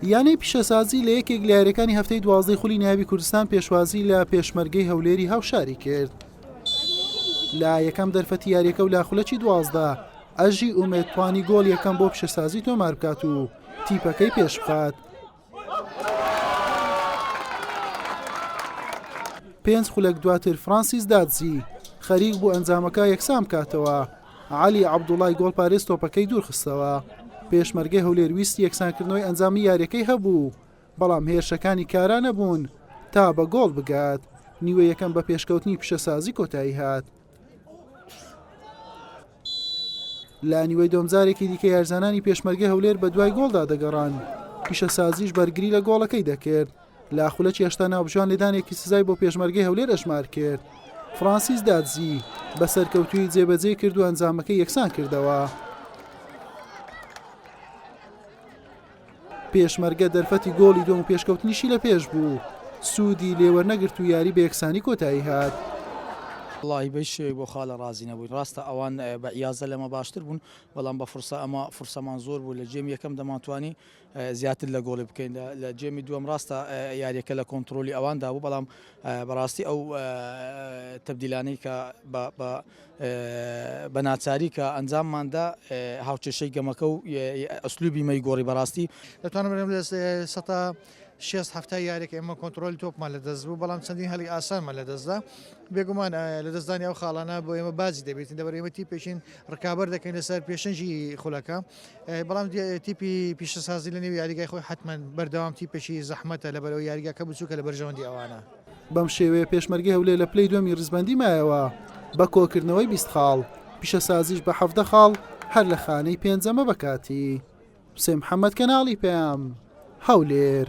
یانەی پیشەسازی لە یەکێک لە یاریەکانی هەفتەی دوازدەی خولی ناوی کوردستان پێشوازی لە پێشمەرگەی هەولێری هاوشاری کرد لە یەکەم دەرفەتی یاریەکە و لا خولەکی دوازدە ئەژی ئومێدتوانی گۆڵ یەکەم بۆ پیشەسازی تۆمار بکات و تیپەکەی پێشبخات پێنج خولەک دواتر فرانسیس دادزی خەریک بوو ئەنجامەکە یەکسان بکاتەوە علی عەبدوڵای گۆڵپارێز تۆپەکەی دوورخستەوە پێشمەرگەی هەولێر ویست یەکسانکردنەوەی ئەنجامی یاریەکەی هەبوو بەڵام هێرشەکانی کارا نەبوون تا بە گۆڵ بگات نیوە یەکەم بە پێشکەوتنی پیشەسازی کۆتایی هات لە نیوەی دوم جارێکی دیکە یارزانانی پێشمەرگەی هەولێر بە دوای گۆڵدا دەگەڕان پیشەسازیش بەرگری لە گۆڵەکەی دەکرد لە خولەکی هێشتا ناوبژان لێدانێکی سزای بۆ پێشمەرگەی هەولێر ئەشمار کرد فرانسیس دادزی بە سەرکەوتوی جێبەجێ کرد و ئەنجامەکە یەکسان کردەوە. پێشمەرگە دەرفەتی گۆڵی دووەم و پێشکەوتنیشی لە پێش بوو، سوودی لێ وەرنەگرت و یاری بە یەکسانی کۆتایی هات. وەڵاهی بەیس شێوەی بۆ خالە ڕازی نەبووین ڕاستە ئەوان بە ئیازدە لەمە باشتر بوون بەڵام بە فرسە ئەمە فرسەمان زۆر بوو لە جێمی یەکەم دەمانتوانی زیاتر لە گۆڵی بکەین لە جێمی دووەم ڕاستە یاریەکە لە کۆنتترۆلی ئەواندا بوو بەڵام بەڕاستی ئەو تبدیلانەی کە بە بە ناچاری کە ئەنجاممان دا هاوکێشەی گەمەکە و ئەسلوبی مەی گۆڕی بەڕاستی دەتوانم سەتا شێست هەفتا یاریەکە ئێمە کۆنتترۆلی تۆپمان لە دەست بوو بەڵام چەندین هەلی ئاسانمان لە دەستدا بێگومان لە دەستدانی ئەو خاڵانە بۆ ئێمە باجی دەبێتین دەبەر ئێمە تی پێشین ڕکابەر دەکەین لەسەر پێشنجی خولەکە بەڵام تیپی پیشەسازی لە نێو یاریگای خۆی حتمما بەردەوام تی پێشی زەحمەتە لە بەرەوە یاریگەکە بچووکە لە بەرژەوەندی ئەوانە. بەم شێوەیە پێشمەرگەی هەولێر لە پلەی دووەمی ریزبەندی مایەوە بە کۆکردنەوەی بیست خاڵ، پیشەسازیش بە حەڤدە خاڵ هەر لە خانەی پێنجەمە بە کاتی. حوسێن محەمەد، کەناڵی پەیام، هەولێر.